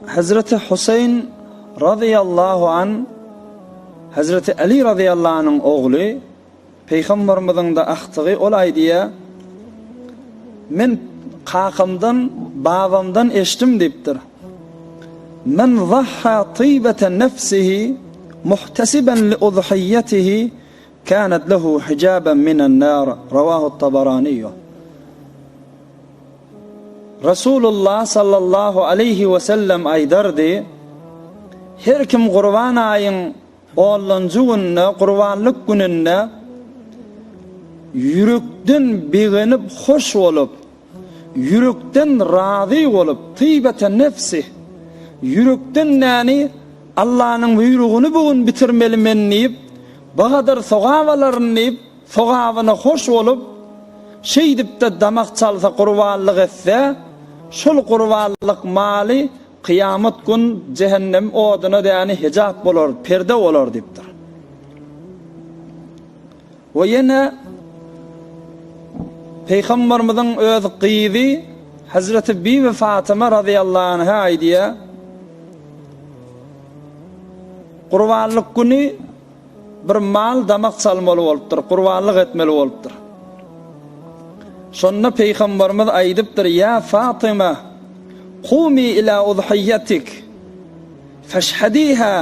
Hezreti Huseýn razyýallahu an, Hezreti Aly razyýallahu anyň ogly, Pygamberimiziň-de agtygy, ol aýdýar, Men kakamdan, babamdan eşdim diýipdir, Men zahha tybata nefsihi muhtesiben li uzhiýetihi Kanat lehu hijaben minen nar, Rawahu Tabaraniýu. Resulullah sallallahu aleýhi we sellem aýdardy, Her kim Gurban aýyň onlanjy gününe, Gurbanlyk gününde, ýürekden begenip, hoş bolup, Ýürekden razy bolup, tybata nefsi, ýürekden näni Allanyň buýrugyny bu gün bitirmeli men diýip, bu gadar sogap alaryn diýip, sogabyna hoş bolup, şeýdip-de damak çalsa gurbanlyk etse, şol gurbanlyk maly kyýamat gün jähennem oduna däni hejap bolar, perde bolar diýipdir. We ýene Pygamberimiziň öz gyzy Hazreti Bibi Fatyma radiyallahu anha aýdýar, Gurbanlyk güni bir mal damak çalmaly bolupdyr, gurbanlyk etmeli bolupdyr. Şonda Peygamberimiz aýdypdyr, Ya Fatyma, kumi ila udhiyatik, feşhadiha,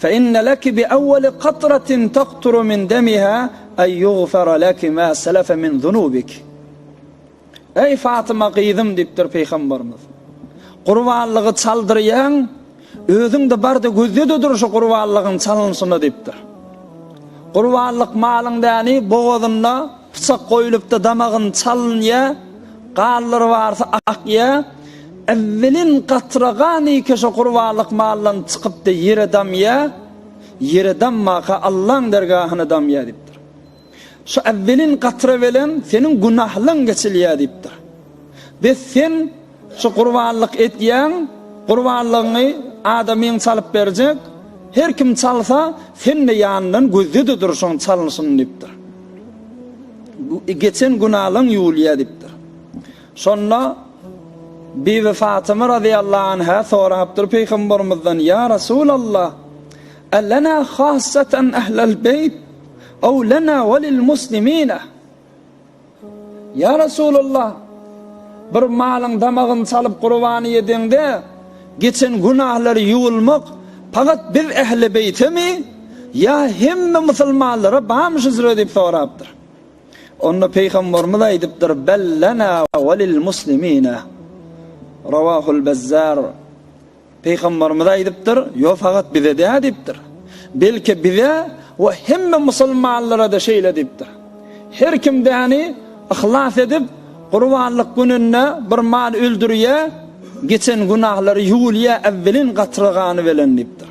Fe inne leki bi awweli katratin takturu min demiha en yugfara leki ma selefe min zunubiki. Eý Fatyma gyzym diýipdir Pygamberimiz. Gurbanlygy çaldyrýaň, özüň-de bar-da gözle-de dur şu gurbanlygyň çalynyşyna diýipdir. Gurbanlyk malyň däni bogazyna pyçak goýulyp-da damagyny çalynýar, ganlary barsa akýar, Ewvelin gatragan eke şo gurbanlyk maldan çykypdy, ýere damýa, ýere dammaka Allaň dergahyna damýa diýipdir. Şo ewvelin gatra bilen seniň günahlaň geçilýä diýipdir. Bes sen şo gurbanlyk etýäň, gurbanlygyňy adamyň çalyp berjek, her kim çalsa sen-de ýanyndan gözde-de dur şoň çalnyşyny diýipdir. Geçen günalaň ýuwulýa diýipdir. Şonda Bibi Fatyma razyýallahu anha sorapdyr Pygambermizden, Ýa Resulallah, Älena hassatan ählel beýt, ow lena we lil muslimine? Ýa Resulallah, bir malyň damagyny çalyp gurbany ýediňde, geçen günahlary ýuwulmak pagat biz ähli beýtemi, ýa hemme musulmanlara bamy şu süre diýip sorapdyr. Onda Pygamberimiz aýdypdyr, Bel lena we lil muslimine. Rawahul Bezzar. Pygamberimiz aýdypdyr, Ýok, fakat bize däl diýipdir. Belki bize we hemme musulmanlara-da şeýle diýipdir. Her kim däni yhlas edip, Gurbanlyk gününde bir mal öldürýär, geçen günahlary ýuwulýar äwwelin gatra gany bilen diýipdir.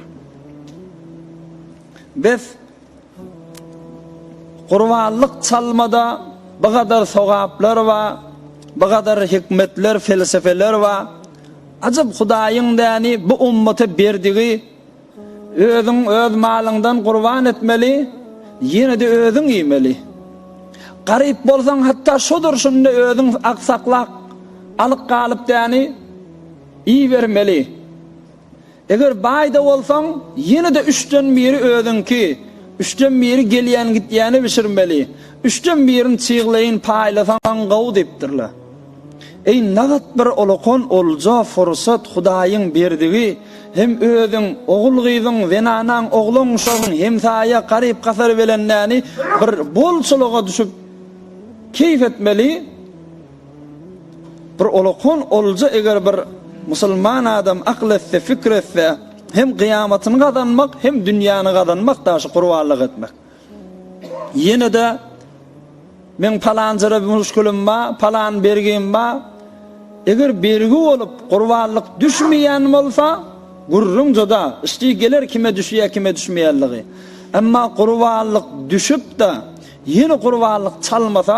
Bes, Gurbanlyk çalmada bu gadar sogaplar bar, bu gadar hikmetler, felsefeler bar. Ajap Hudaýyň däni bu ummata berdigi, özüň öz malyňdan gurban etmeli, ýene-de özüň iýmeli. Garyp bolsaň hatda şu durşunda özüň aksaklak, alyk galyp däni iýibermeli. Eger baý-da bolsaň, ýene-de üçden biri özüňki, üçden biri gelýän-gidýäne bişirmeli, üçden birini çygleýin paýlasaň gowy diýipdirler. Eý, nagt bir ulkan olja, fursat, Hudaýyň berdigi, hem özüň, ogul-gyzyň, zenanaň, oglan-uşagyň, hemsaýa, garyp-gasar belendäni bir bolçulyga düşüp keýp etmeli, Bir olakon olja eger bir musulman adam akyl etse fikir etse hem gyýamatyny gazanmak hem dünýäni gazanmak daşy gurbanlyk etmek. Ýenede men palanjara bir muşkilim ba, palan bergim ba. Eger bergi bolup gurbanlyk düşmeýän bolsa gürrüň juda işdi geler kime düşýär kime düşmeýänligi. Emma gurbanlyk düşüp de ýene gurbanlyk çalmasa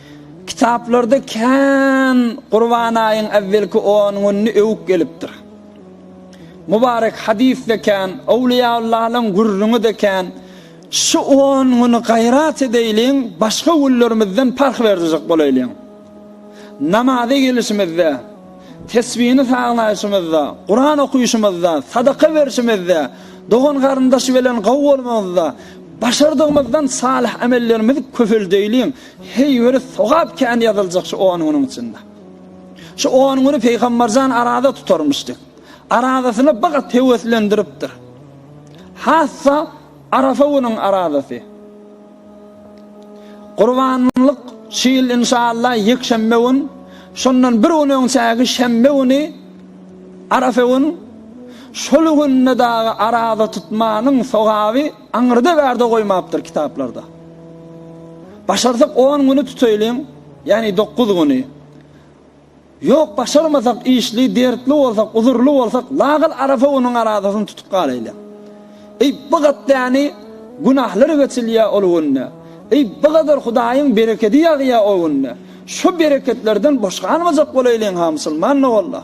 Kitaplarda kän Gurban aýyň äwwelki on gününi öwüp gelipdir. Mubarek hadysda kän, owliýaullalaryň gürrüňi-de kän. Şu on güni gaýrat edeýliň, başga günlerimizden parh berjek bolaýlyň. Namaza gelişimizde, tesbini saglaýşymyzda, Kuran okyşymyzda, sadaka berşimizde, dogan-garyndaş bilen gowy bolmamyzda, başardygymyzdan salyh emellerimizi köpeldeýliň. Heý, öli sogap kän ýazyljak şu on günüň içinde. Şu on güni Pygamberjan arada tutarmyş diýip. Aradasyna bir gat höweslendiripdir. Hassa Arafa günüň aradasy. Gurbanlyk şu ýyl inşallah ýekşenbe gün, şondan bir gün öňçäki şenbe güni Arafa gün şol günde dagy arada tutmanyň sogaby Aňyrda bärde goýmapdyr kitaplarda. Başarsak on güni tutaýlyň, ýagny dokuz güni. Ýok başarmasak işli, dertli bolsak, uzurly bolsak lagal Arafa günüň arazasyny tutup galaýlyň. Eý bu gatdäni günahlar geçilýär ol günde. Eý bu gadar Hudaýyň berekedi ýagýar o günde. Şu bereketlerden boş galmajak bolaýlyň-ha musulman doganlar.